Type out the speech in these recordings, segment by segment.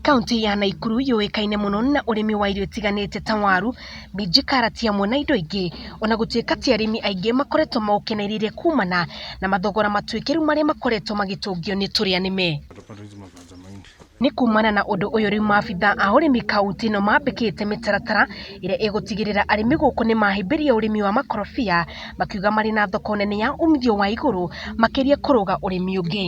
Kauntĩ ya Naikuru yũĩkaine mũno na ũrĩmi wa irio itiganĩte ta waru, minji, karati hamwe na indo ingĩ. Ona gũtuĩka ti arĩmi aingĩ makoretwo maũkenereire kumana na mathogora matuĩkĩru marĩa makoretwo magĩtũngio nĩ tũrĩa nĩme. Nĩ kumana na ũndũ ũyũ rĩu maabitha a ũrĩmi kauntĩ ĩno mambĩkĩte mĩtaratara ĩrĩa ĩgũtigĩrĩra arĩmi gũkũ nĩ mahĩmbĩria ũrĩmi wa makorobia, makiuga marĩ na thoko nene ya umithio wa igũrũ makĩria kũrũga ũrĩmi ũngĩ.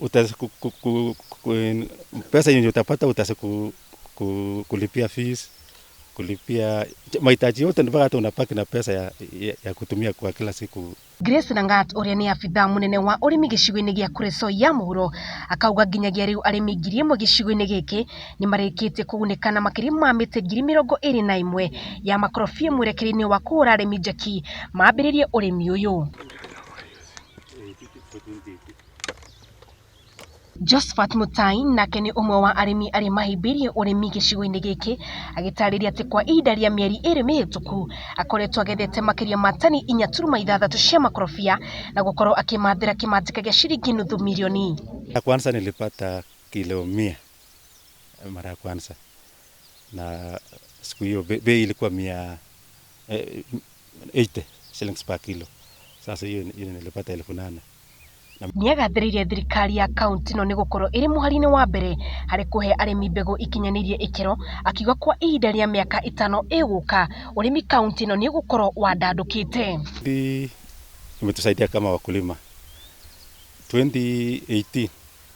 utaweza ku, ku, ku, ku, pesa yenye utapata utaweza ku, ku, kulipia fees kulipia mahitaji yote, ndio hata unapaki na pesa ya, ya, ya kutumia kwa kila siku. Grace Langat ũrĩa nĩ abitha mũnene wa ũrĩmi gĩcigo-inĩ gĩa Kuresoi ya mũhuro akauga nginyagia rĩu arĩmi ngiri ĩmwe gĩcigo-inĩ gĩkĩ nĩ marĩkĩtie kũgunĩka na makĩria ma mĩtĩ ngiri mĩrongo ĩrĩ na ĩmwe ya makorobia mwerekere-inĩ wa kũhũra arĩmi njeki mambĩrĩrie ũrĩmi ũyũ. Josphat Mũtai nake nĩ ũmwe wa arĩmi arĩa mahĩmbĩirie ũrĩmi gĩcigo-inĩ gĩkĩ, agĩtarĩria atĩ kwa ihinda rĩa mĩeri ĩrĩ mĩhĩtũku, akoretwo agethete makĩria ma tani inya turuma ithathatũ cia makorobia, na gũkorwo akĩmathĩra kĩmanjĩka gĩa ciringi nuthu mirioni. Ya kwanza nilipata kilo mia mara ya kwanza na siku hiyo bei ilikuwa mia eh, 80 shillings per kilo. Sasa hiyo hiyo nilipata elfu nane nĩ agathĩrĩire thirikari ya kaunti ĩno nĩ gũkorwo ĩrĩ mũhari-inĩ wa mbere harĩ kũhe arĩmi mbegũ ikinyanĩirie ikĩro, akiuga kwa ihinda rĩa mĩaka ĩtano ĩgũka ũrĩmi kaunti ĩno nĩ ũgũkorwo wandandũkĩte. Hii imetusaidia kama wakulima 2018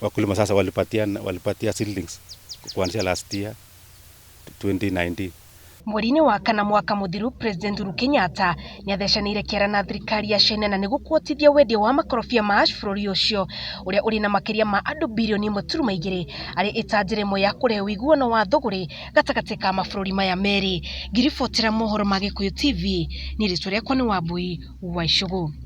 wakulima sasa walipatia, walipatia seedlings kuanzia last year 2019 Mweri-inĩ wa kana mwaka mũthiru, President Uhuru Kenyatta nĩ athecanĩire kĩara na thirikari ya China na nĩ gũkuotithia wendia wa makorobia ma ash bũrũri ũcio ũrĩa ũrĩ na makĩria ma andũ birioni ĩmwe turuma igĩrĩ arĩ ĩta njĩra ĩmwe ya kũrehe ũiguano wa thũgũrĩ gatagatĩ ka mabũrũri maya merĩ. Ngiribotera mohoro ma Gĩkũyũ TV, niĩ rĩtwa rĩakwa nĩ Wambui wa Icũgũ.